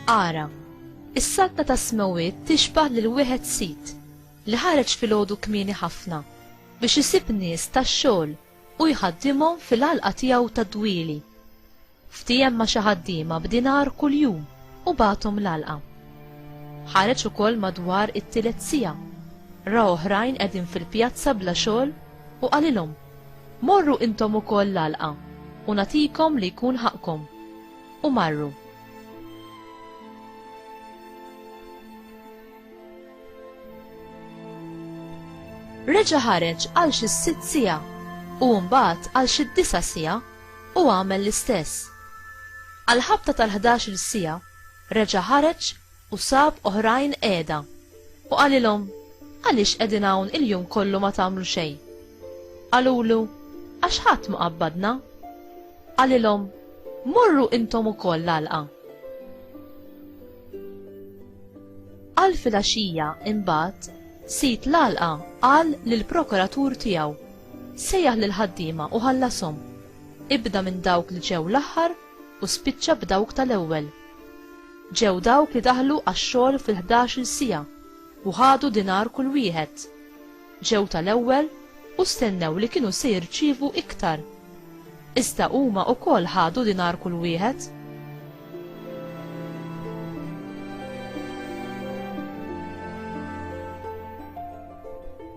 Ara, is-saltna ta' smewit tixbah lil wieħed sit li ħareġ filgħodu kmieni ħafna biex isib nies tax-xogħol u jħaddimhom fil-għalqa tiegħu tad-dwieli. Ftiehem ma' xi ħaddiema b'dinar kuljum u bagħathom l-għalqa. Ħareġ ukoll madwar it-tielet siegħa, ra oħrajn qegħdin fil-pjazza bla xogħol u qalilhom, Morru intom ukoll l-għalqa u nagħtikom li jkun ħaqqkom. U marru. Reġa' ħareġ għal xi sitt siegħa u mbagħad għal xi disa' siegħa. u għamel l-istess. Għall-ħabta tal-ħdax-il siegħa reġa' ħareġ u sab oħrajn qiegħda, u qalilhom, Għaliex qegħdin hawn il-jum kollu ma tagħmlu xejn? Qalulu, Għax ħadd ma qabbadna. Qalilhom, Morru intom ukoll l-għalqa. Għal filgħaxija imbagħad sid l-għalqa qal lill-prokuratur tiegħu, Sejjaħ lill-ħaddiema u ħallashom. Ibda minn dawk li ġew l-aħħar u spiċċa b'dawk tal-ewwel. Ġew dawk li daħlu għax-xogħol fil-ħdax-il siegħa u ħadu dinar kull wieħed. Ġew tal-ewwel u stennew li kienu se jirċievu iktar. Iżda huma wkoll ħadu dinar kull wieħed.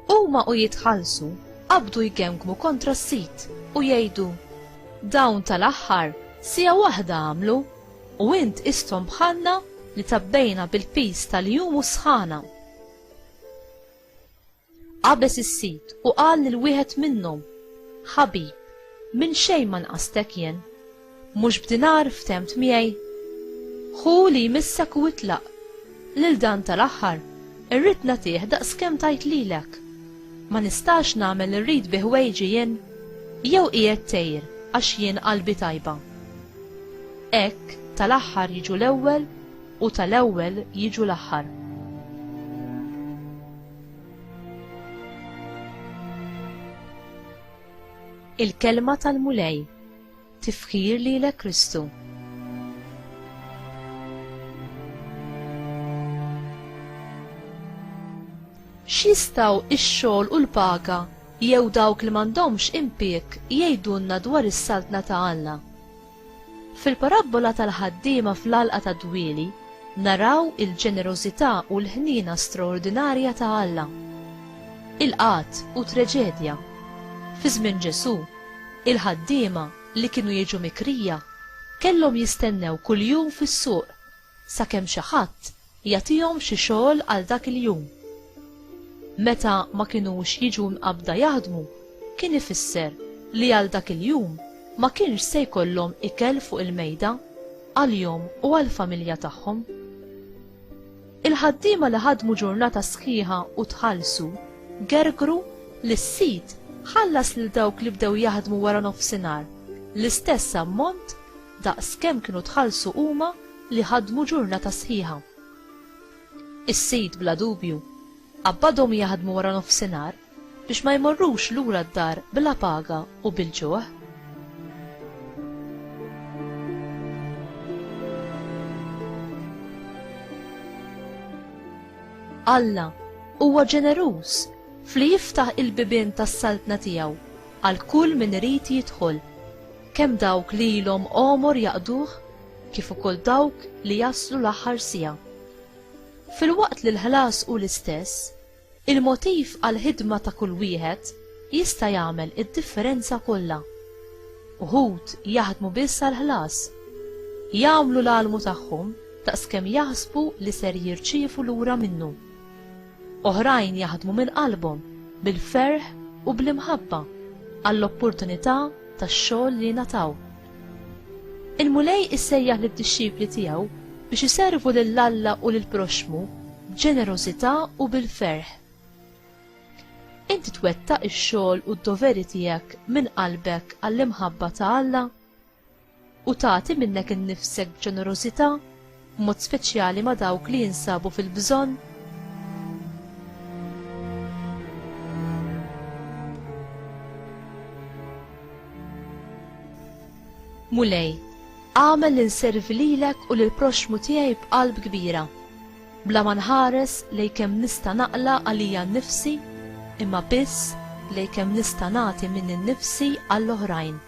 Huma u jitħallsu qabdu jgemgmu kontra s-sid u jgħidu, Dawn tal-aħħar siegħa waħda għamlu, u int qisthom bħalna li tgħabbejna bil-piż tal-jum u s-sħana. Qabeż is-sid u qal lil wieħed minnhom, Ħabib, minn xejn ma nqastek jien. Mhux b'dinar ftemt miegħi? Ħu li jmissek u itlaq. Lil dan tal-aħħar, irrid nagħtih daqs kemm tajt lilek. Ma nistax nagħmel li rrid bi ħwejġi jien? Jew qiegħed tgħir għax jien qalbi tajba? Hekk, tal-aħħar jiġu l-ewwel u tal-ewwel jiġu l-aħħar. Il-kelma tal-Mulej Tifħir lilek Kristu. X'jistgħu x-xogħol u l-paga jew dawk li m'għandhomx impik jgħidulna dwar is-saltna ta' Alla? Fil-parabbola tal-ħaddiema fl-għalqa ta' dwili, naraw il-ġenerożità u l-ħnina straordinarja ta' Alla. Il-qat u traġedja. Fi żmien Ġesù, Il-ħaddiema li kienu jiġu mikrija kellhom jistennew kuljum fis-suq sakemm xi ħadd jagħtihom xi xogħol għal dak il-jum. Meta ma kinux jiġu mqabbda jaħdmu kien ifisser li għal dak il-jum ma kienx se jkollhom ikel fuq il-mejda għalihom u għall-familja tagħhom. Il-ħaddiema li ħadmu ġurnata sħiħa u tħallsu gergru li s-sid ħallas lil dawk li bdew jaħdmu wara nofsinhar l-istess ammont daqs kemm kienu tħallsu huma li ħadmu ġurnata sħiħa. Is-sid bla dubju qabbadhom jaħdmu wara nofsinhar biex ma jmorrux lura d-dar bla paga u bil-ġuħ. Alla huwa ġeneruż fli jiftaħ il-bibien tas-saltna tiegħu għal kull min irid jidħol, kemm dawk li ilhom għomor jaqduh kif ukoll dawk li jaslu l-aħħar siegħa. Filwaqt li l-ħlas hu l-istess, Il-motiv għall-ħidma ta' kull wieħed jista' jagħmel id-differenza kollha. Uħud jaħdmu biss għall-ħlas. Jagħmlu l-għalmu tagħhom daqskemm jaħsbu li ser jirċievu lura minnu. Oħrajn jaħdmu minn qalbhom, bil-ferħ u bl-imħabba għall-opportunità tax-xogħol li ngħataw. Il-Mulej issejjaħ lid-dixxipli tiegħu biex iservu lil Alla u lill-proxxmu b'ġenerożità u bil-ferħ. Inti twettaq ix-xogħol u d-doveri tiegħek minn qalbek għall-imħabba ta' Alla? U tagħti minnek innifsek b'ġenerożità b'mod speċjali ma' dawk li jinsabu fil-bżonn Mulej, għamel li nservi lilek u lill-proxxmu tiegħi b'qalb kbira, bla ma nħares lej kemm nista' naqla għalija nnifsi, imma biss lej kemm nista' nagħti minn innifsi għall-oħrajn.